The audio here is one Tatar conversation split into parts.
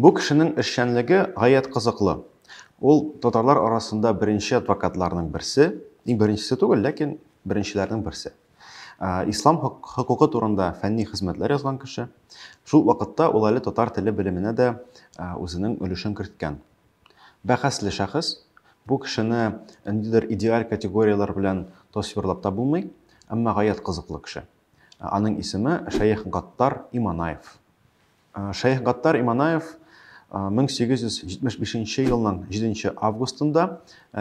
Бу кешенең эшчәнлеге гаять кызыклы. Ул татарлар арасында беренче адвокатларның берсе, иң беренчесе түгел, ләкин беренчеләрнең берсе. Ислам хокукы турында фәнни хезмәтләр язган кеше. Шул вакытта ул әле татар теле белеменә дә үзенең өлешен керткән. Бәхәсле шәхес, бу кешене ниндидер идеаль категорияләр белән тасвирлап та булмый, әмма гаять кызыклы кеше. Аның исеме Шәех Гаттар Иманаев. Шәех Гаттар Иманаев 1875 елның 7 августында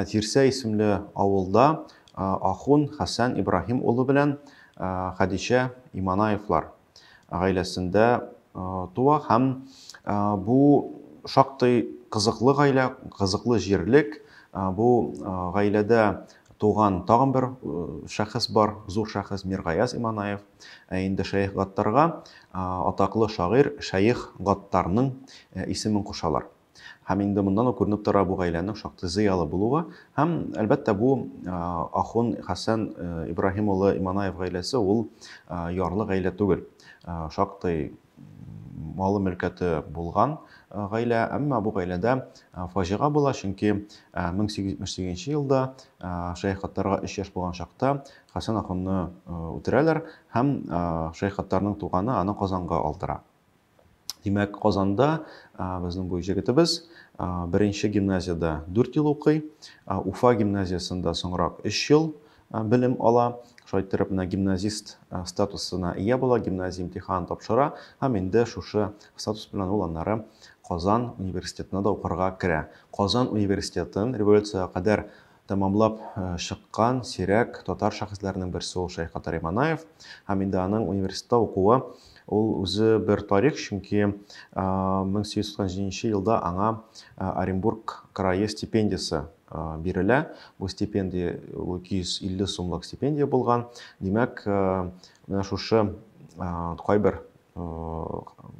Тирсә исемле авылда ахун Хәсән Ибраһим улы белән Хәдичә Иманаевлар гаиләсендә туа һәм бу шактый кызыклы гаилә, кызыклы җирлек. Бу гаиләдә туган тагын бер шәхес бар, зур шәхес Миргаяз Иманаев. Ә инде Шәех Гаттарга атаклы шагыйрь Шәех Гаттарның исемен кушалар. Һәм инде моннан ук күренеп тора бу гаиләнең шактый зыялы булуы. Һәм, әлбәттә, бу ахун Хәсән Ибраһим улы Иманаев гаиләсе ул ярлы гаилә түгел. Шактый малы мөлкәте булган гаилә, әмма бу гаиләдә фаҗига була, чөнки 1878 елда Шәйх Хаттарга 3 яшь булган чакта Хәсән ахунны үтерәләр һәм Шәйх Хаттарның туганы аны Казанга алдыра. Димәк, Казанда безнең бу җегетебез беренче гимназиядә 4 ел укый, Уфа гимназиясендә соңрак 3 ел, белем ала, шулай иттереп менә гимназист статусына ия була, гимназия имтиханын тапшыра һәм инде шушы статус белән ул аннары Казан университетына да укырга керә. Казан университетын революциягә кадәр тәмамлап чыккан сирәк татар шәхесләренең берсе ул Шәйх Катари Манаев һәм инде аның университетта укуы ул үзе бер тарих, чөнки 1897 елда аңа Оренбург крае стипендиясе бирелә. Бу стипендия 250 сумлык стипендия булган. Димәк, менә шушы кайбер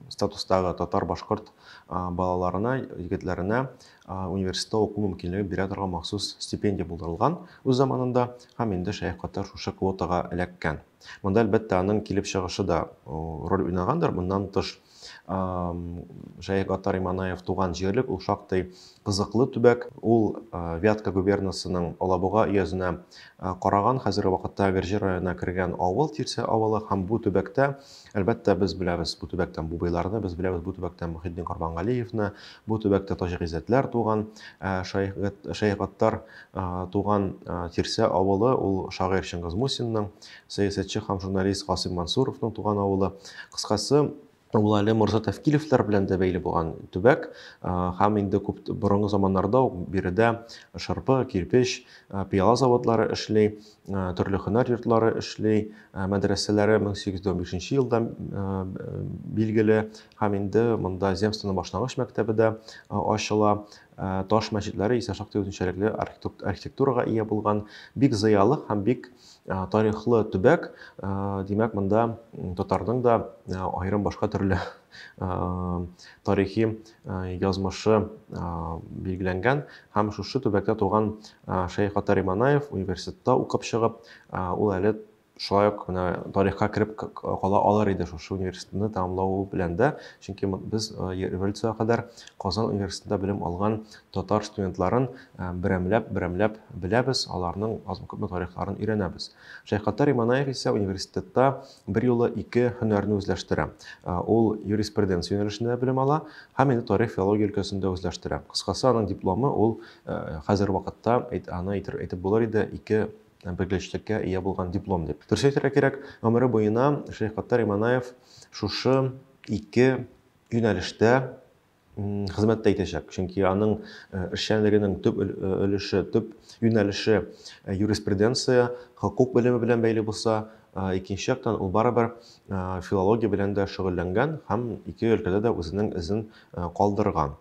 статустагы татар-башкорт балаларына, егетләренә университетта уку мөмкинлеге бирә торган махсус стипендия булдырылган үз заманында һәм инде Шәйх Катар шушы квотага эләккән. Монда әлбәттә аның килеп чыгышы да роль уйнагандыр. Моннан тыш Шәех Гаттар Иманаев туган җирлек, ул шактый кызыклы төбәк. Ул Вятка губернасының Алабуга өязенә караган, хәзерге вакытта Гөрҗи районына кергән авыл, Тирсә авылы. Һәм бу төбәктә, әлбәттә, без беләбез бу төбәктән Бубыйларны, без беләбез бу төбәктән Мөхетдин Корбангалиевны, бу төбәктә Таҗи Гыйззәтләр туган. Шәех Гаттар туган Тирсә авылы, ул шагыйрь Чыңгыз Мусинның сәясәтче һәм журналист Гасыйм Мансуровның туган авылы. Кыскасы, ул әле морза Тәфкилевләр белән дә бәйле булган төбәк һәм инде күп борынгы заманнарда ук биредә шырпы, кирпеч, пыяла заводлары эшли, төрле һөнәр йортлары эшли, мәдрәсәләре 1815 елда билгеле һәм инде монда земствоның башлангыч мәктәбе дә ачыла. Ә, таш мәчетләре исә шактый үзенчәлекле архитектурага ия булган, бик зыялы һәм бик ә, тарихлы төбәк. Ә, димәк, монда татарның да ә, аерым башка төрле ә, тарихи ә, язмышы ә, билгеләнгән. Һәм шушы төбәктә туган ә, Шәйх Атари Манаев университетта укып чыгып, ә, ул әле Шулай ук менә тарихка кереп кала алыр иде шушы университетны тәмамлау белән дә, чөнки без революциягә кадәр Казан университетында белем алган татар студентларын берәмләп, берәмләп беләбез, аларның азмы-күпме тарихларын өйрәнәбез. Шәйхаттар Иманаев исә университетта берьюлы ике һөнәрне үзләштерә. Ул юриспруденция юнәлешендә белем ала һәм инде тарих филология өлкәсендә үзләштерә. Кыскасы, аның дипломы ул хәзер вакытта аны әйтеп булыр иде ике белгечлеккә ия булган диплом дип. Дөрес әйтергә кирәк, гомере буена Шәйхгаттар Иманаев шушы ике юнәлештә хезмәттә итәчәк. Чөнки аның э, эшчәнлегенең төп э, өлеше, төп юнәлеше э, юриспруденция, хокук белеме белән бәйле булса, икенче яктан ул барыбер филология белән дә шөгыльләнгән һәм ике өлкәдә дә үзенең эзен калдырган.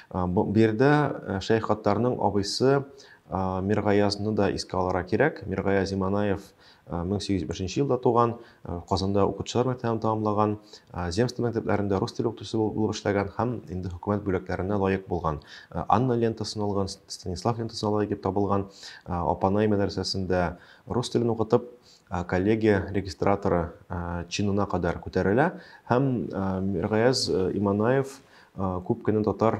Бу биредә Шәйх Хаттарның абыйсы Миргаязны да искә алырга кирәк. Миргаяз Иманаев 1801 елда туган, Казанда укытучылар мәктәбен тәмамлаган, земство мәктәпләрендә рус теле укытучысы булып эшләгән һәм инде хөкүмәт бүләкләренә лаек булган. Анна лентасын алган, Станислав лентасына лаек дип табылган. Апанай мәдрәсәсендә рус телен укытып, коллегия регистраторы чинына кадәр күтәрелә һәм Миргаяз Иманаев Күп кенә татар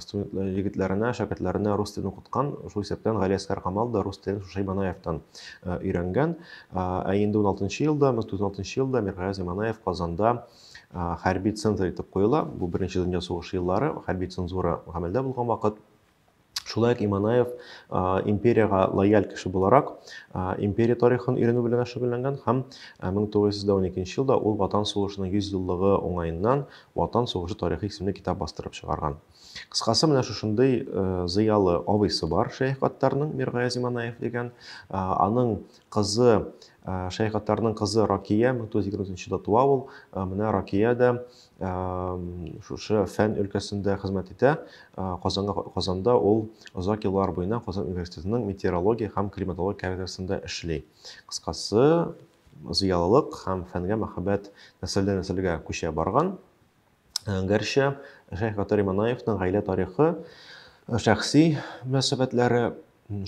студентлары егетләренә, шәкертләренә рус телен укыткан, шул исәптән Гали Әскәр Камал да рус телен Шушай Манаевтан өйрәнгән. Ә инде 16 елда, 1916 елда Миргаяз Иманаев Казанда хәрби цензор итеп куела. Бу беренче дөнья сугышы еллары, хәрби цензура гамәлдә булган вакыт. Шулай ук Иманаев империягә лояль кеше буларак, империя тарихын өйрәнү белән шөгыльләнгән һәм 1912 елда ул Ватан сугышының 100 еллыгы уңаеннан Ватан сугышы тарихы исемле китап бастырып чыгарган. Кыскасы, менә шушындый зыялы абыйсы бар Шәйх Гаттарның, Миргаяз Иманаев дигән. Аның кызы Шәйх Гаттарның кызы Ракия 1923 елда туа ул. Менә Ракия дә шушы фән өлкәсендә хезмәт итә. Казанга Казанда ул озак еллар буена Казан университетының метеорология һәм климатология кафедрасында эшли. Кыскасы, зыялылык һәм фәнгә мәхәббәт нәселдән нәселгә күчә барган. Гәрчә Шәйх Гатари Манаевның гаилә тарихы, шәхси мөнәсәбәтләре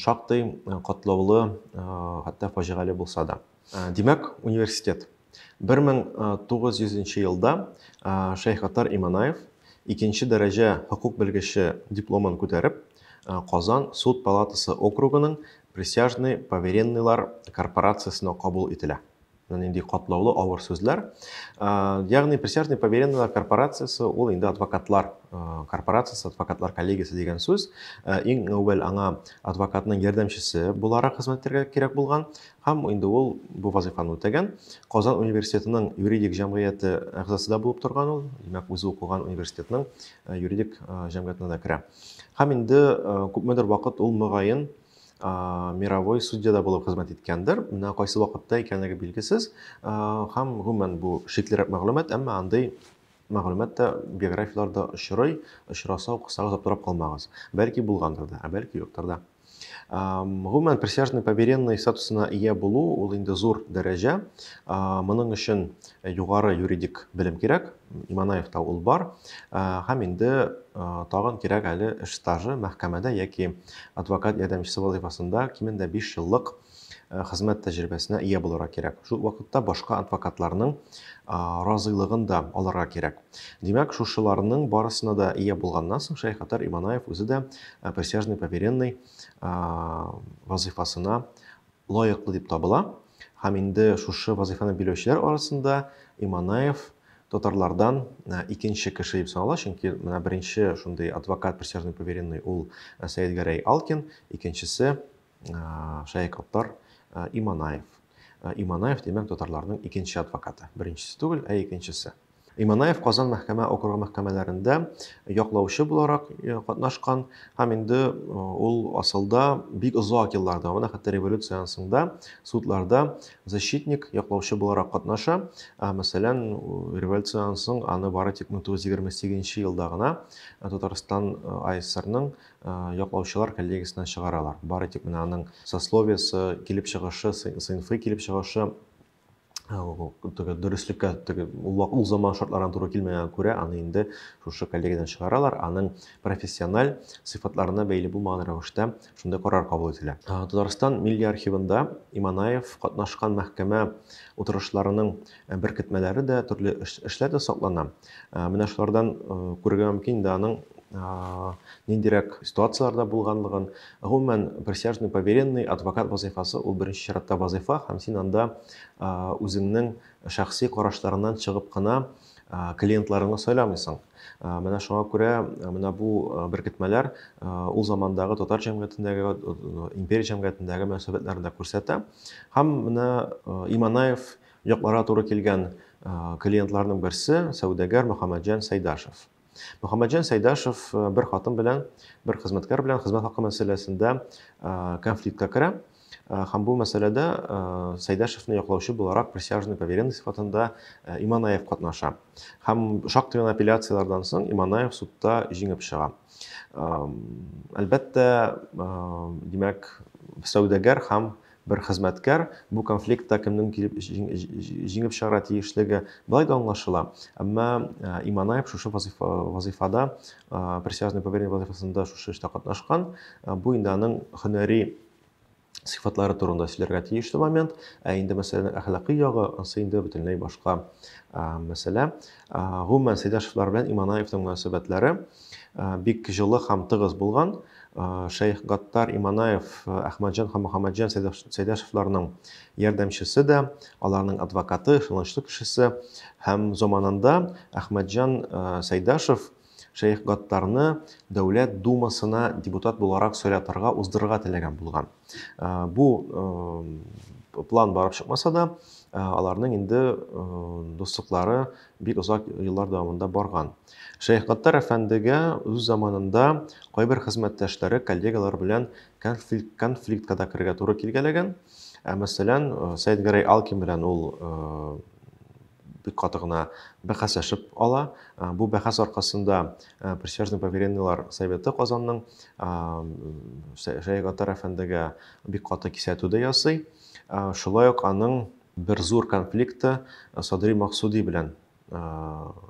шактый катлаулы, хәтта фаҗигале булса да. Ә, Димәк, университет. 1900 елда ә, Шәйхаттар Иманаев икенче дәрәҗә хокук белгече дипломын күтәреп, ә, Казан суд палатасы округының присяжный поверенныйлар корпорациясенә кабул ителә. Менә нинди катлаулы авыр сүзләр. Ә, Ягъни присяжный поверенныйлар корпорациясе ул инде адвокатлар ә, корпорациясе, адвокатлар коллегиясе дигән сүз. Ә, Иң әүвәл аңа адвокатның ярдәмчесе буларак хезмәт итәргә кирәк булган. Һәм инде ул бу вазыйфаны үтәгән. Казан университетының юридик җәмгыяте әгъзасы да булып торган ул. Димәк, үзе укыган университетның э, юридик э, җәмгыятенә дә керә. Һәм инде э, күпмедер вакыт ул мөгаен мировой судьяда булып хезмәт иткәндер. Менә кайсы вакытта икәнлеге билгесез. Һәм гомумән бу шиклерәк мәгълүмат, әмма андый мәгълүмат та биографияләрдә очрый, очраса укысагыз аптырап калмагыз. Бәлки булгандыр да, ә бәлки юктыр да. Гомумән, присяжный поверенный статусына ия булу ул инде зур дәрәҗә. Моның өчен югары юридик белем кирәк. Иманаевта ул бар. Һәм инде тагын кирәк әле эш стажы мәхкәмәдә яки адвокат ярдәмчесе вазифасында кимендә 5 еллык э, хезмәт тәҗрибәсенә ия булырга кирәк. Шул вакытта башка адвокатларның разыйлыгын да алырга кирәк. Димәк, шушыларның барысына да ия булганнан соң Шәйх Хатар Иманаев үзе дә э, присяжный поверенный вазифасына лаеклы дип табыла. Һәм инде шушы вазифаны биләүчеләр арасында Иманаев татарлардан э, икенче кеше дип санала, чөнки менә беренче шундый адвокат присяжный поверенный ул э, Сәйдгәрәй Алкин, икенчесе Шәек Оттар Иманаев. Иманаев, димәк, татарларның икенче адвокаты. Беренчесе түгел, ә икенчесе. Иманаев Казан мәхкәмә округы мәхкәмәләрендә яклаучы буларак э, катнашкан һәм инде э, ул асылда бик озак еллар дәвамында, хәтта революциянең соңында судларда защитник, яклаучы буларак катнаша. Ә, мәсәлән, революциянең соң аны бары тик 1928 елда гына э, Татарстан АСРның яклаучылар коллегиясеннән чыгаралар. Бары тик менә аның сословиесе, килеп чыгышы, сыйнфый килеп чыгышы теге дөреслеккә теге ул заман шартларына туры килмәгәнгә күрә аны инде шушы коллегиядән чыгаралар аның профессиональ сыйфатларына бәйле булмаган рәвештә шундый карар кабул ителә татарстан милли архивында иманаев катнашкан мәхкәмә утырышларының Ә беркетмәләре дә, төрле эш, эшләр дә саклана. Ә, менә шулардан ә, күрергә мөмкин инде аның ә, ниндирәк ситуацияләрдә булганлыгын. Гомумән, присяжный поверенный, адвокат вазыйфасы ул беренче чиратта вазыйфа һәм син анда ә, үзеңнең шәхси карашларыңнан чыгып кына ә, клиентларыңны сайламыйсың. Ә, менә шуңа күрә ә, менә бу ә, беркетмәләр ә, ул замандагы татар җәмгыятендәге, ә, империя җәмгыятендәге мөнәсәбәтләрне дә күрсәтә. Һәм менә ә, Иманаев Якларга туры килгән клиентларның берсе, сәүдәгәр Мөхәммәтҗан Сәйдашев. Мөхәммәтҗан Сәйдашев бер хатын белән, бер хезмәткәр белән хезмәт хакы мәсьәләсендә конфликтка керә. Э, һәм бу мәсьәләдә э, Сәйдәшевне яклаучы буларак присяжный поверенный сыйфатында э, Иманаев катнаша. Һәм шактый гына апелляцияләрдән соң Иманаев судта җиңеп чыга. Әлбәттә, димәк, сәүдәгәр һәм Бер хезмәткәр, бу конфликтта кемнең килеп җиңеп чыгарга тиешлеге болай да аңлашыла, әмма Иманаев шушы вазыйфада, присяжный поверенный вазыйфасында шушы эштә катнашкан, бу инде аның һөнәри сыйфатлары турында сөйләргә тиешле момент, ә инде мәсьәләнең әхлакый ягы, ансы инде бөтенләй башка мәсьәлә. Гомумән, Сәйдәшевлар белән Иманаевның мөнәсәбәтләре, бик җылы һәм тыгыз булган. Шәех Гаттар Иманаев, Әхмәтҗан һәм Мөхәммәтҗан Сәйдәшевларның ярдәмчесе дә, аларның адвокаты, ышанычлы кешесе. Һәм заманында Әхмәтҗан Сәйдәшев Шәех Гаттарны Дәүләт Думасына депутат буларак сайлатырга, уздырырга теләгән булган. Бу план барып чыкмаса да, аларның инде дуслыклары бик озак еллар дәвамында барган. Шәйх Гаттар әфәндегә үз заманында кайбер хезмәттәшләре, коллегалар белән конфликт, конфликтка да керергә туры килгәләгән. Ә мәсәлән, Сәйдгәрәй Алкин белән ул бик каты гына бәхәсләшеп ала. Бу бәхәс аркасында присяжный поверенныйлар советы Казанның Шәягатар әфәндегә бик каты кисәтү дә ясый. Шулай ук аның бер зур конфликты Садри Максуди белән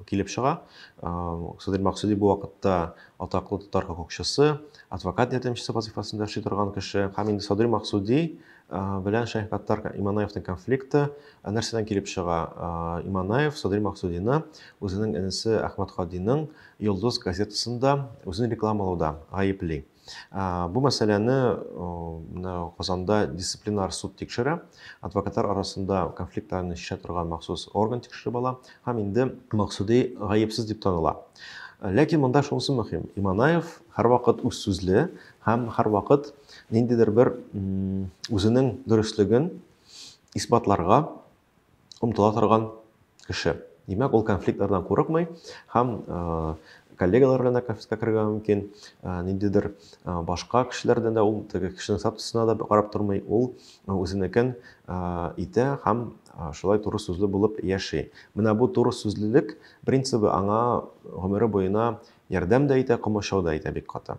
килеп чыга. Садри Максуди бу вакытта атаклы татар хокукчысы, адвокат ярдәмчесе вазифасында эшли торган кеше. Һәм инде Садри Максуди белән Шәйх Гаттар Иманаевның конфликты нәрсәдән килеп чыга? Иманаев Садри Максудины үзенең энесе Әхмәт Кадиның Йолдыз газетасында үзен рекламалауда гаепли. Бу мәсьәләне Казанда дисциплинар суд тикшерә. Адвокатлар арасында конфликтларны чишә торган махсус орган тикшереп ала һәм инде Максуди гаепсез дип таныла. Ләкин монда шунысы мөһим. Иманаев һәрвакыт үз сүзле Һәм һәрвакыт ниндидер бер үзенең дөреслеген исбатларга омтыла торган кеше. Димәк, ул конфликтлардан курыкмый һәм коллегалар белән дә конфликтка керергә мөмкин, ниндидер башка кешеләрдән дә ул теге кешенең статусына да карап тормый, ул үзенекен итә һәм шулай туры сүзле булып яши. Менә бу туры сүзлелек принцибы аңа гомере буена ярдәм дә итә, комачау да итә бик каты.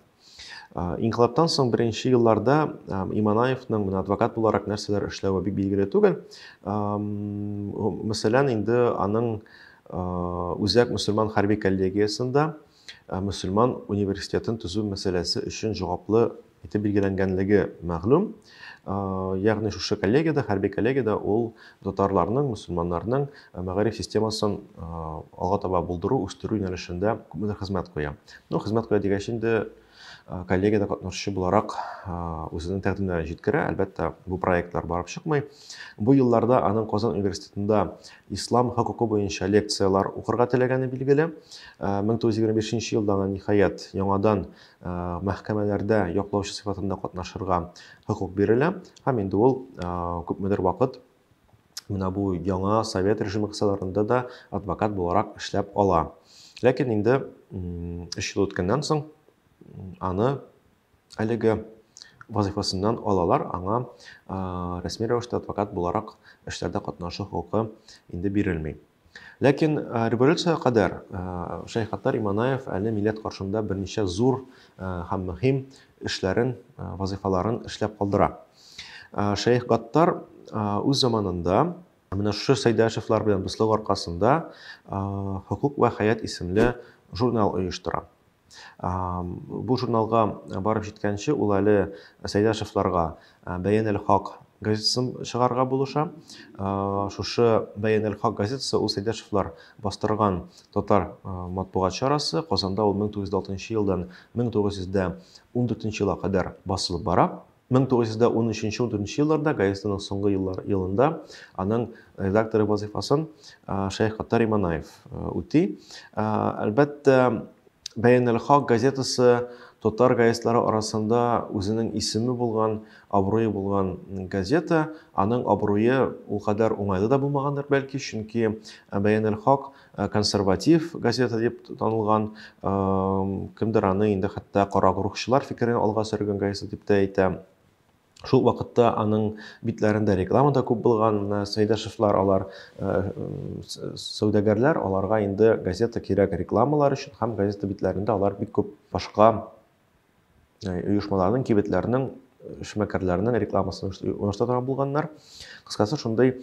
Инкылаптан соң беренче елларда Иманаевның менә адвокат буларак нәрсәләр эшләве бик билгеле түгел. Мәсәлән, инде аның үзәк мөселман хәрби коллегиясендә мөселман университетын төзү мәсьәләсе өчен җаваплы итеп билгеләнгәнлеге мәгълүм. ягъни шушы коллегиядә хәрби коллегиядә ул татарларның мөселманнарның мәгариф системасын алга таба булдыру үстерү юнәлешендә күпмедер хезмәт куя ну хезмәт куя дигәч инде коллегиядә катнашучы буларак үзенең тәкъдимнәрен җиткерә әлбәттә бу проектлар барып чыкмый бу елларда аның казан университетында ислам хокукы буенча лекциялар укырга теләгәне билгеле мең тугыз йөз егерме бишенче елда ниһаять яңадан мәхкәмәләрдә яклаучы сыйфатында катнашырга хокук бирелә һәм инде ул күпмедер вакыт менә бу яңа совет режимы кысаларында да адвокат буларак эшләп ала ләкин инде өч ел үткәннән соң аны әлеге вазифасыннан алалар аңа рәсми рәвештә адвокат буларак эшләрдә катнашу хокукы инде бирелми Ләкин революциягә кадәр Шәйхаттар Иманаев әле милләт каршында берничә зур һәм мөһим эшләрен, вазыйфаларын эшләп калдыра. Шәйх Гаттар үз заманында менә шушы Сәйдәшевлар белән дуслык аркасында Хокук вә хәят исемле журнал оештыра. Бу журналга барып җиткәнче ул әле Сәйдәшевларга Бәян әл-Хак газетасын чыгарырга булыша. Шушы Бәян әл-Хак газетасы ул Сәйдәшевлар бастырган татар матбугат чарасы. Казанда ул 1906 елдан 1914 елга кадәр басылып бара. Мең тугыз йөз дә ун өченче ундүртенче елларда газетаның соңгы еллар елында аның редакторы вазыйфасын Шәйх Хаттар Иманаев үти. Әлбәттә, Бәянәл Хак газетасы татар газетлары арасында үзенең исеме булган, абруе булган газета, аның абруе ул кадәр уңайлы да булмагандыр, бәлки, чөнки Бәянәл Хак Э, консерватив газета дип танылган э, кемдер аны инде хәтта карагурухчылар фикерен алга сөргән газета дип тә әйтә шул вакытта аның битләрендә реклама да күп булган менә сәйдәшевлар алар э, сәүдәгәрләр аларга инде газета кирәк рекламалар өчен һәм газета битләрендә алар бик күп башка Yani, оешмаларның, кибетләрнең, эшмәкәрләрнең рекламасын оештыра торган булганнар. Кыскасы, шундый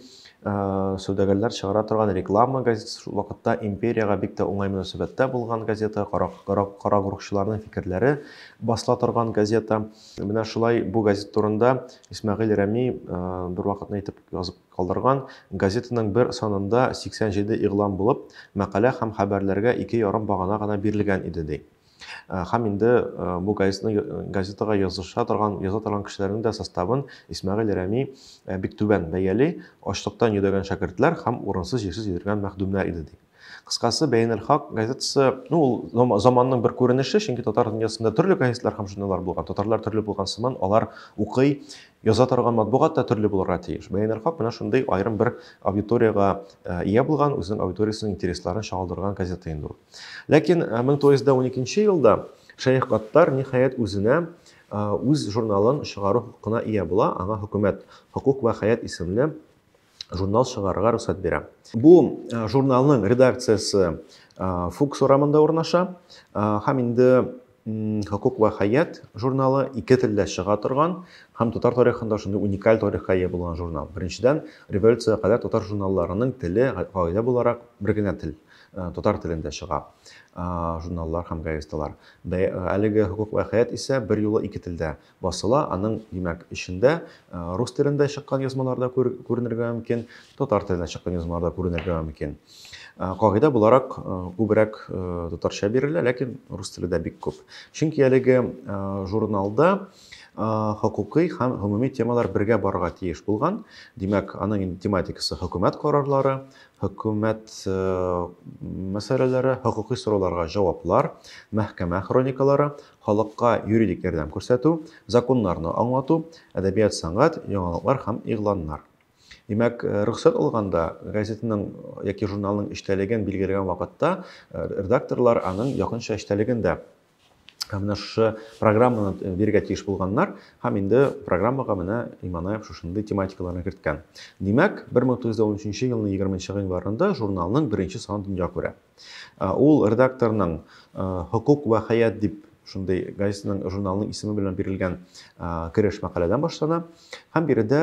сәүдәгәрләр чыгара торган реклама газетасы шул вакытта империягә бик тә уңай мөнәсәбәттә булган газета, карагурыкчыларның фикерләре басыла торган газета. Менә шулай бу газет турында Исмәгыйль Рәми бервакытны итеп язып калдырган, газетаның бер санында 87 игълан булып, мәкалә һәм хәбәрләргә ике ярым багана гына бирелгән иде, ди. Э, һәм инде э, бу газетаны э, газетага языша торган яза торган кешеләрнең дә составын Исмәгыйль Рәми бик түбән бәяли, ачлыктан йөдәгән шәкертләр һәм урынсыз җирсез йөргән мәхдүмнәр иде ди. Кыскасы, Бәйнәл Хак газетасы, ну, ул заманның бер күренеше, чөнки татар дөньясында төрле газетлар һәм журналлар булган. Татарлар төрле булган сыман, алар укый, яза торган матбугат та төрле булырга тиеш. Бәйнәл Хак менә шундый аерым бер аудиторияга ия булган, үзенең аудиториясенең интересларын чагылдырган газета инде ул. Ләкин 1912 э, елда Шәех Гаттар ниһаять үзенә э, үз журналын чыгару хокукына ия була, аңа хөкүмәт Хокук вә хәят исемле журнал чыгарырга рөхсәт бирә. Бу э, журналның редакциясе Фукс урамында урнаша һәм инде Хокук вә хәят журналы ике телдә чыга торган һәм татар тарихында шундый уникаль тарихка ия булган журнал. Беренчедән, революциягә кадәр татар журналларының теле гаилә буларак бер генә тел, э, татар телендә чыга э, журналлар һәм газеталар. Бә, э, әлеге Хокук вә хәят исә бер юлы ике телдә басыла, аның, димәк, эчендә рус телендә чыккан язмалар да күренергә мөмкин, татар телендә чыккан язмалар да күренергә мөмкин. Кагыйдә буларак күбрәк татарча бирелә, ләкин рус теле дә бик күп. Чөнки әлеге журналда хокукый һәм гомуми темалар бергә барырга тиеш булган. Димәк, аның инде тематикасы хөкүмәт карарлары, хөкүмәт мәсьәләләре, хокукый сорауларга җаваплар, мәхкәмә хроникалары, халыкка юридик ярдәм күрсәтү, законнарны аңлату, әдәбият-сәнгать, яңалыклар һәм игъланнар. Димәк, э, рөхсәт алганда, газетаның э, яки журналның эчтәлеген билгеләгән вакытта э, редакторлар аның якынча эчтәлеген дә менә шушы программаны бирергә тиеш булганнар һәм инде программага менә Иманаев шушындый тематикаларны керткән. Димәк, 1913 елның 20 январында журналның беренче саны дөнья күрә. Ул редакторның Хокук вә хәят дип шундый газетаның журналының исеме белән бирелгән кереш мәкаләдән башлана. Һәм биредә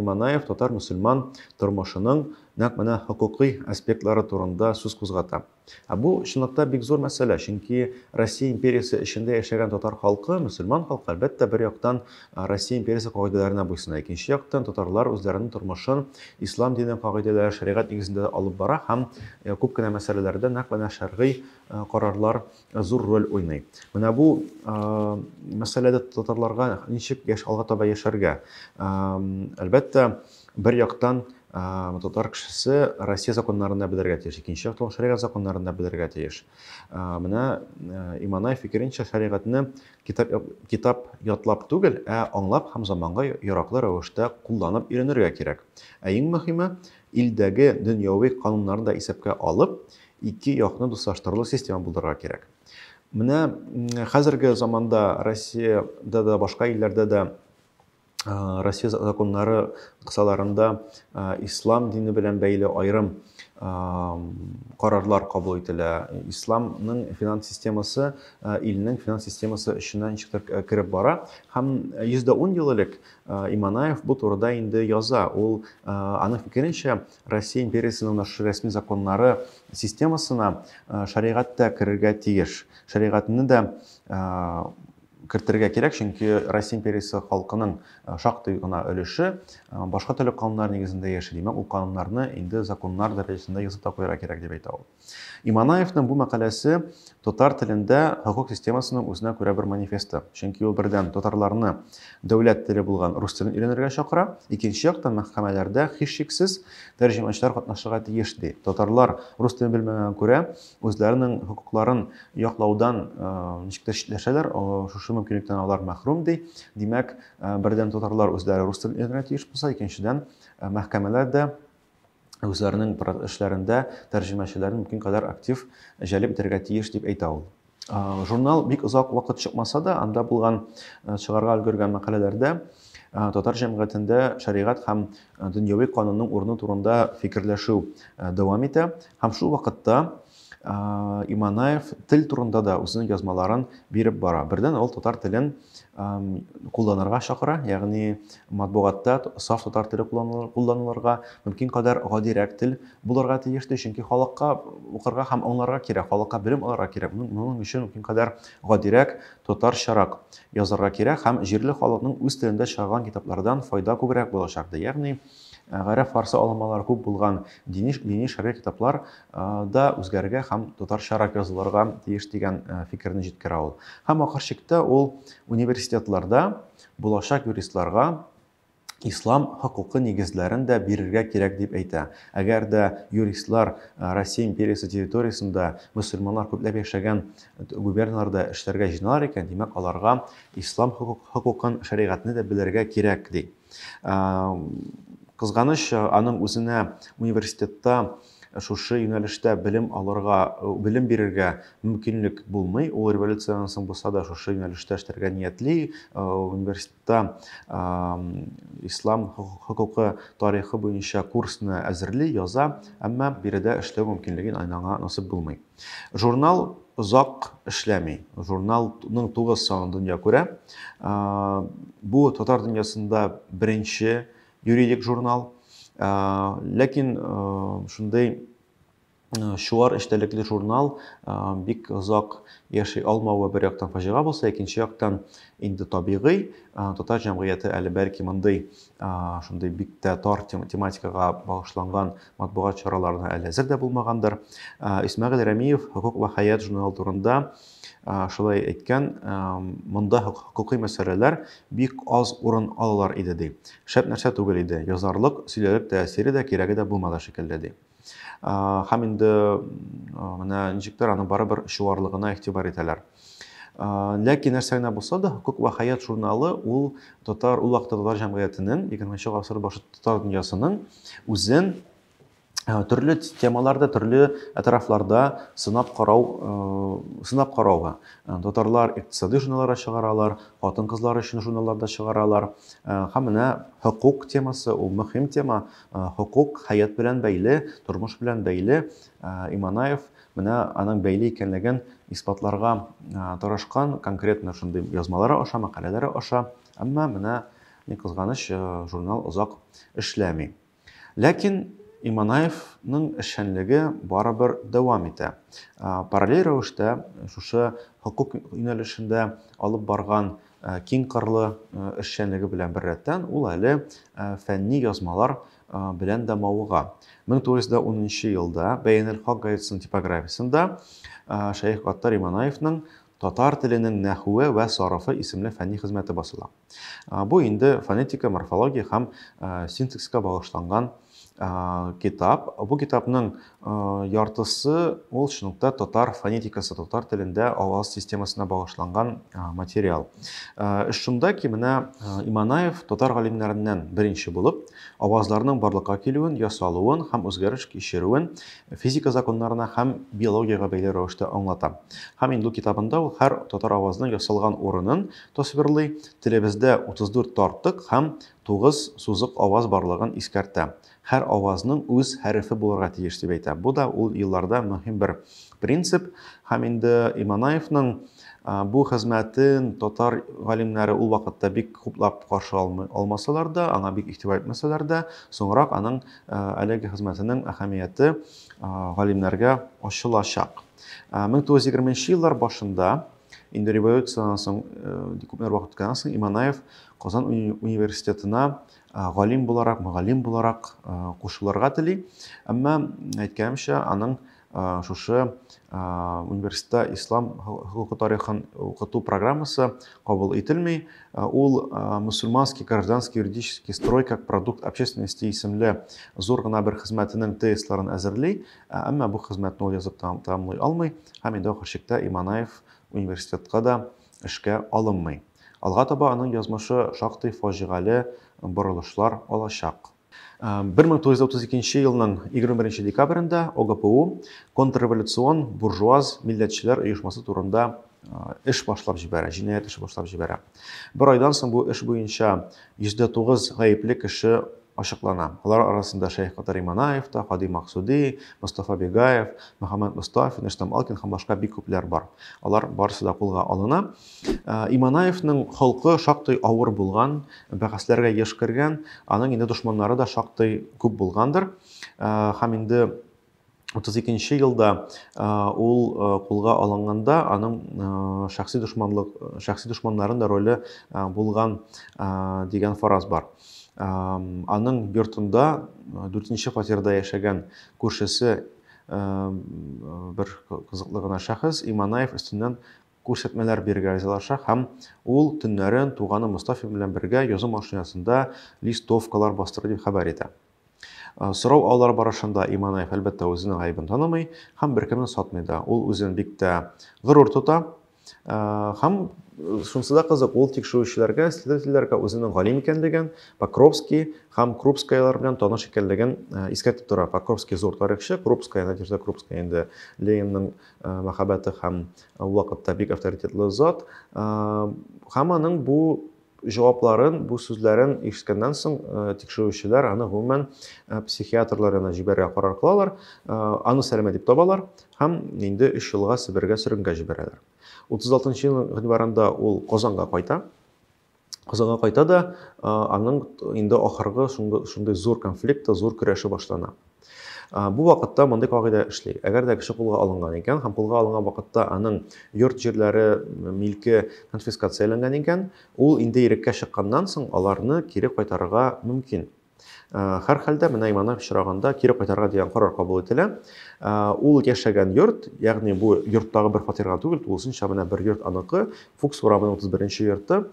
Иманаев татар-мөселман тормышының нәкъ менә хокукый аспектлары турында сүз кузгата. Ә бу чынлыкта бик зур мәсьәлә, чөнки Россия империясе эчендә яшәгән татар халкы, мөселман халкы, әлбәттә, бер яктан Россия империясе кагыйдәләренә буйсына. Икенче яктан, татарлар үзләренең тормышын ислам дине кагыйдәләре, шәригать нигезендә алып бара һәм күп кенә мәсьәләләрдә нәкъ менә шәргый карарлар зур роль уйный. Менә бу мәсьәләдә татарларга ничек яшь алга таба яшәргә? Әлбәттә, бер яктан татар кешесе Россия законнарында белергә тиеш, икенче яктан шәригать законнарында белергә тиеш. Менә Иманай фикеренчә шәригатьне Китап, китап ятлап түгел, ә аңлап һәм заманга яраклы рәвештә кулланып өйрәнергә кирәк. Ә иң мөһиме, илдәге дөньяви кануннарны да исәпкә алып, ике якны дуслаштырырлык система булдырырга кирәк. Менә хәзерге заманда Россиядә дә, башка илләрдә дә Россия законнары кысаларында ислам дине белән бәйле айрым карарлар кабул ителә. Исламның финанс системасы илнең финанс системасы эченә ничектер кереп бара. Һәм 110 ел элек Иманаев бу турыда инде яза. Ул аның фикеренчә, Россия империясенең нашы рәсми законнары системасына шәригать тә керергә тиеш. Шәригатьне дә кертергә кирәк, чөнки Россия империясе халкының шактый гына өлеше башка төрле кануннар нигезендә яши. Димәк, ул кануннарны инде законнар дәрәҗәсендә язып та куярга кирәк, дип әйтә ул. Иманаевның бу мәкаләсе татар телендә хокук системасының үзенә күрә бер манифесты. Чөнки ул бердән татарларны дәүләт теле булган рус телен өйрәнергә чакыра, икенче яктан мәхкәмәләрдә һичшиксез тәрҗемәчеләр катнашырга тиеш, ди. Татарлар рус телен белмәгәнгә күрә, үзләренең хокукларын яклаудан ничек тә читләшәләр, шушы мөмкинлектән алар мәхрүм ди. Димәк, бердән татарлар үзләре рус телен өйрәнергә тиеш булса, икенчедән мәхкәмәләр дә үзләренең эшләрендә тәрҗемәчеләрен мөмкин кадәр актив җәлеп итәргә тиеш дип әйтә ул. Журнал бик озак вакыт чыкмаса да, анда булган чыгарга өлгергән мәкаләләрдә татар җәмгыятендә шәригать һәм дөньяви канунның урыны турында фикерләшү дәвам итә. Һәм шул вакытта Иманаев тел турында да үзенең язмаларын биреп бара. Бердән ул татар телен кулланырга чакыра, ягъни матбугатта саф татар теле кулланылырга, мөмкин кадәр гадирәк тел булырга тиеш ди, чөнки халыкка укырга һәм аңларга кирәк, халыкка белем алырга кирәк. Моның өчен мөмкин кадәр гадирәк Татарчарак язарга кирәк һәм җирле халыкның үз телендә чыгарган китаплардан файда күбрәк булачак, ди. Ягъни, гарәп-фарсы алынмалары күп булган дини, дини шәргый китаплар да үзгәрергә һәм татарчарак язылырга тиеш дигән фикерне җиткерә ул. Һәм ахыр чиктә ул университетларда булачак юристларга ислам хокукы нигезләрен дә бирергә кирәк дип әйтә. Әгәр дә юристлар Россия империясе территориясендә мөселманнар күпләп яшәгән губерналарда эшләргә җыйналар икән, димәк, аларга ислам хокукын, шәригатьне дә белергә кирәк, ди. Кызганыч, аның үзенә университетта шушы юнәлештә белем алырга, белем бирергә мөмкинлек булмый. Ул революциядән соң булса да шушы юнәлештә эшләргә ниятли. Университет та ислам хокукы тарихы буенча курсны әзерли, яза, әмма биредә эшләү мөмкинлеген айнаңа насып булмый. Журнал озак эшләми. Журналның тугыз санын дөнья күрә. Бу татар дөньясында беренче юридик журнал. Ләкин шундый чуар эчтәлекле журнал бик озак яши алмавы бер яктан фаҗига булса, икенче яктан инде табигый, татар җәмгыяте әле бәлки мондый шундый бик тә тар тематикага багышланган матбугат чараларына әле әзер дә булмагандыр. Исмәгыйль Рәмиев Хокук ва хәят журналы турында шулай әйткән, монда хокукый мәсьәләләр бик аз урын алалар иде ди. Шәп нәрсә түгел иде, язарлык, сөйләрлек тәэсире дә, кирәге дә булмады шикелле ди. һәм инде менә ничектер аны барыбер чуарлыгына игътибар итәләр ләкин нәрсә генә булса да хокук вә хәят журналы ул татар ул вакытта татар җәмгыятенең егерменче гасыр башы татар дөньясының үзен төрле темаларда төрле тарафларда сынап карау сынап карауга татарлар икътисади журналлар чыгаралар хатын кызлар өчен журналлар да чыгаралар һәм менә хокук темасы ул мөһим тема Хокук, хәят белән бәйле, тормыш белән бәйле. Иманаев менә аның бәйле икәнлеген исбатларга тырышкан, конкретно шундый язмалары аша, мәкаләләре аша. Әмма менә ни кызганыч, журнал озак эшләми. Ләкин Иманаевның эшчәнлеге барыбер дәвам итә. Параллель рәвештә шушы хокук юнәлешендә алып барган Киң кырлы эшчәнлеге белән беррәттән, ул әле фәнни язмалар белән дә мавыга. 1910 елда Бәянел-Хак газетасының типографиясендә Шәех Гаттар Иманаевның Татар теленең нәхүе вә сарыфы исемле фәнни хезмәте басыла. Бу инде фонетика, морфология һәм синтаксиска багышланган китап. Бу китапның яртысы ул шунлыкта татар фонетикасы, татар телендә аваз системасына багышланган материал. Шунда ки менә Иманаев татар галимнәреннән беренче булып авазларның барлыкка килүен, ясалуын һәм үзгәреш кичерүен физика законнарына һәм биологиягә бәйле рәвештә аңлата. Һәм инде китабында ул һәр татар авазының ясалган урынын тасвирлый. Телебездә 34 тартык һәм Тугыз сузык аваз барлыгын искәртә. Һәр авазның үз хәрефе булырга тиеш дип әйтә. Бу да ул елларда мөһим бер принцип. Һәм инде Иманаевның бу хезмәтен татар галимнәре ул вакытта бик хуплап каршы алмасалар да, аңа бик игътибар итмәсәләр дә, соңрак аның әлеге хезмәтенең әһәмияте галимнәргә ачылачак. 1920 еллар башында Инде революциянән соң күпләр вакыт үткәннән соң Иманаев Казан университетына галим буларак, мөгаллим буларак кушылырга тели. Әмма әйткәнемчә, аның шушы университетта ислам хокукы тарихын укыту программасы кабул ителми. Ул мусульманский гражданский юридический строй как продукт общественности исемле зур гына бер хезмәтенең тезисларын әзерли Ә әмма бу хезмәтне ул язып тәмамлый алмый һәм инде ахыр чиктә Иманаев университетка да эшкә алынмый. Алга таба аның язмышы шактый фаҗигале борылышлар алачак. 1932 елның 21 декабрендә ОГПУ контрреволюцион буржуаз милләтчеләр оешмасы турында эш башлап җибәрә, җинаять эше башлап җибәрә. Бер айдан соң бу эш буенча 109 гаепле кеше ачыклана. Алар арасында Шәйх Катари Манаев та, Кади Максуди, Мостафа Бегаев, Мөхәммәд Мостафин, Рөстәм Алкин һәм башка бик күпләр бар. Алар барысы да кулга алына. Ә, Иманаевның холкы шактый авыр булган, бәхәсләргә еш кергән, аның инде дошманнары да шактый күп булгандыр. Ә, Һәм инде 32 нче елда ул кулга алынганда, аның шәхси дошманлык, шәхси дошманнарын да роле булган дигән фараз бар. Аның йортында 4 нче фатирда яшәгән күршесе бер кызыклы гына шәхес Иманаев өстеннән күрсәтмәләр бирергә ризалаша һәм ул төннәрен туганы Мостафин белән бергә язу машинасында листовкалар бастыра дип хәбәр итә. Сорау алулар барышында Иманаев, әлбәттә, үзенең гаебен танымый һәм беркемне сатмый да. Ул үзен бик тә горур тота. Һәм шунысы да кызык, ул тикшерүчеләргә, следовательләргә үзенең галим икәнлеген, Покровский һәм Крупскаялар белән таныш икәнлеген искәртеп тора. Покровский зур тарихчы, Крупская, Надежда Крупская инде Ленинның мәхәббәте һәм ул вакытта бик авторитетлы зат. Һәм аның бу Җавапларын, бу сүзләрен ишеткәннән соң, тикшерүчеләр аны гомумән психиатрлар янына җибәрергә карар кылалар, аны сәләмә дип табалар һәм инде өч елга Себергә сөргенгә җибәрәләр. 36 нчы елның гыйнварында ул Казанга кайта. Казанга кайта да, аның инде ахыргы шундый зур конфликты, зур көрәше башлана. Бу вакытта мондый кагыйдә эшли. Әгәр дә кеше кулга алынган икән һәм кулга алынган вакытта аның йорт җирләре, милке конфискацияләнгән икән, ул инде иреккә чыкканнан соң аларны кире кайтарырга мөмкин. Хәр хәлдә менә имана очраганда кире кайтарырга дигән карар кабул ителә. Ул яшәгән йорт, ягъни бу йорттагы бер фатирга түгел, тулысынча менә бер йорт аныкы, Фукс урамының 31-нче йорты.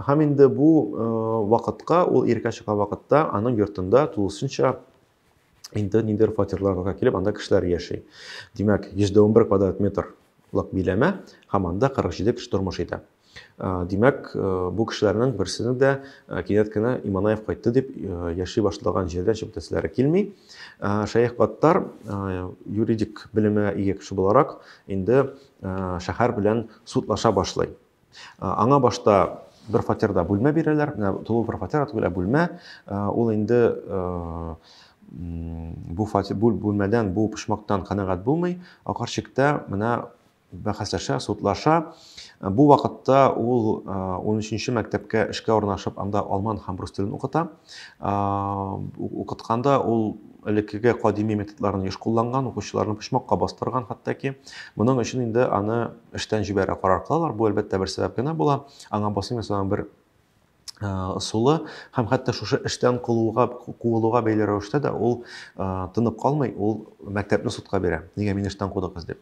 Һәм инде бу вакытка ул иреккә чыккан вакытта аның йортында тулысынча инде ниндидер фатирларга килеп, анда кешеләр яши. Димәк, 111 квадрат метр лык биләмә һәм анда 47 кеше тормыш итә. Димәк, бу кешеләрнең берсенең дә кинәт кенә Иманаев кайтты дип яши башлаган җирдән чыгып китәселәре килми. Шәех Гаттар юридик белемгә ия кеше буларак инде шәһәр белән судлаша башлый. Аңа башта бер фатирда бүлмә бирәләр, менә тулы бер фатир түгел, ә бүлмә. Ул инде бу фатир бу бүлмәдән, бу почмактан канәгать булмый. Акарчыкта менә бәхәсләшә, судлаша. Бу вакытта ул 13-нче мәктәпкә эшкә урнашып, анда алман һәм рус телен укыта. Укытканда ул элеккеге кадими методларын еш кулланган, укучыларны почмакка бастырган хәтта ки. Моның өчен инде аны эштән җибәрә карар кылалар. Бу әлбәттә бер сәбәп генә була. Аңа басым ясаган бер ысулы һәм хәтта шушы эштән кылуга куылуга бәйле рәвештә дә ул тынып калмый, ул мәктәпне судка бирә. Нигә мине эштән кудыгыз дип.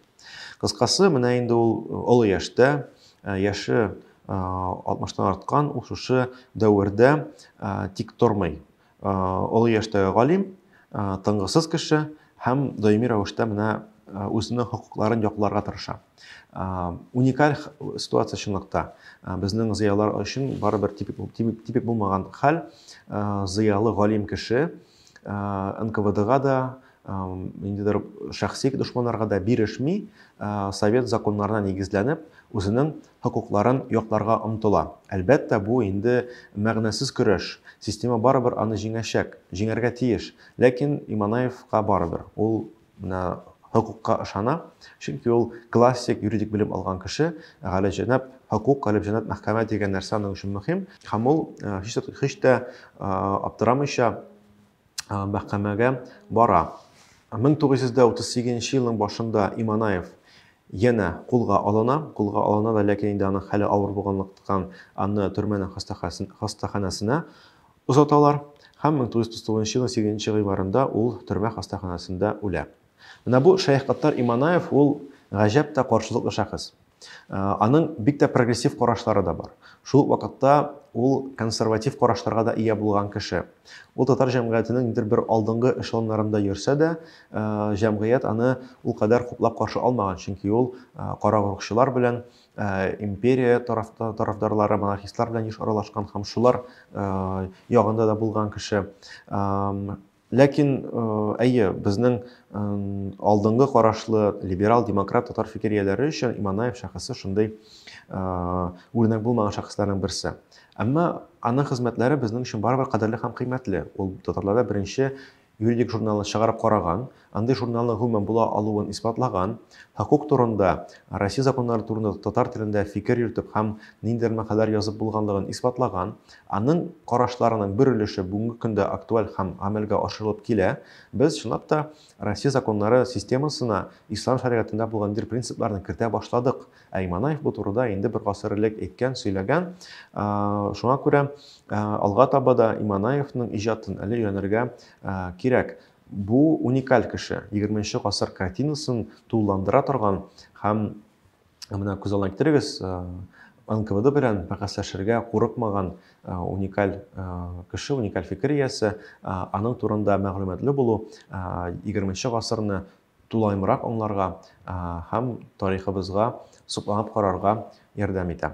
Кыскасы, менә инде ул олы яшьтә, яше 60-тан арткан, ул шушы дәвердә тик тормый. Олы яшьтәге галим, тынгысыз кеше һәм даими рәвештә менә үзенең хокукларын якларга тырыша. Уникаль ситуация чынлыкта. Безнең зыялар өчен барыбер типик, типик, типик булмаган хәл. Зыялы галим кеше НКВДга да, ниндидер шәхси дошманнарга да бирешми, совет законнарына нигезләнеп, үзенең хокукларын якларга омтыла. Әлбәттә, бу инде мәгънәсез көрәш. Система барыбер аны җиңәчәк, җиңәргә тиеш. Ләкин Иманаевка барыбер. Ул менә хокукка ышана, чөнки ул классик юридик белем алган кеше. Галәҗәнап хокук, галәҗәнап мәхкәмә дигән нәрсә аның өчен мөһим. Һәм ул һич тә аптырамыйча, мәхкәмәгә бара. 1938 елның башында Иманаев янә кулга алына, кулга алына да, ләкин инде аның хәле авыр булганлыктан аны төрмәнең хастаханәсенә озаталар һәм 1939 елның 8 гыйнварында ул төрмә хастаханәсендә үлә. Менә бу Шәех Гаттар Иманаев ул гаҗәп тә каршылыклы шәхес. Аның бик тә прогрессив карашлары да бар. Шул ук вакытта ул консерватив карашларга да ия булган кеше. Ул татар җәмгыятенең нидер бер алдынгы эшелоннарында йөрсә дә, җәмгыять аны ул кадәр хуплап каршы алмаган, чөнки ул карагорыкчылар белән, империя тарафдарлары, монархистлар белән еш аралашкан һәм шулар ягында да булган кеше. Ләкин, әйе, безнең алдынгы карашлы либерал, демократ татар фикер ияләре өчен Иманаев шәхесе шундый үрнәк булмаган шәхесләрнең берсе. Әмма аның хезмәтләре безнең өчен барыбер кадерле һәм кыйммәтле. Ул татарларда беренче юридик журналны чыгарып караган, андый журналның гомумән була алуын исбатлаган, хокук турында, Россия законнары турында татар телендә фикер йөртеп һәм ниндидер мәкаләләр язып булганлыгын исбатлаган, Аның карашларының бер өлеше бүгенге көндә актуаль һәм гамәлгә ашырылып килә. Без, чынлап та, Россия законнары системасына ислам шәригатендә булган ниндидер принципларны кертә башладык. Ә Иманаев бу турыда инде бер гасыр элек әйткән, сөйләгән. Шуңа күрә алга таба да Иманаевның иҗатын әле өйрәнергә кирәк. Бу уникаль кеше, егерменче гасыр картинасын тулыландыра торган һәм Менә күз алдына китерегез, НКВД белән бәхәсләшергә курыкмаган уникаль кеше, уникаль фикер иясе, аның турында мәгълүматлы булу 20 гасырны тулаемрак аңларга һәм тарихыбызга сокланып карарга ярдәм итә.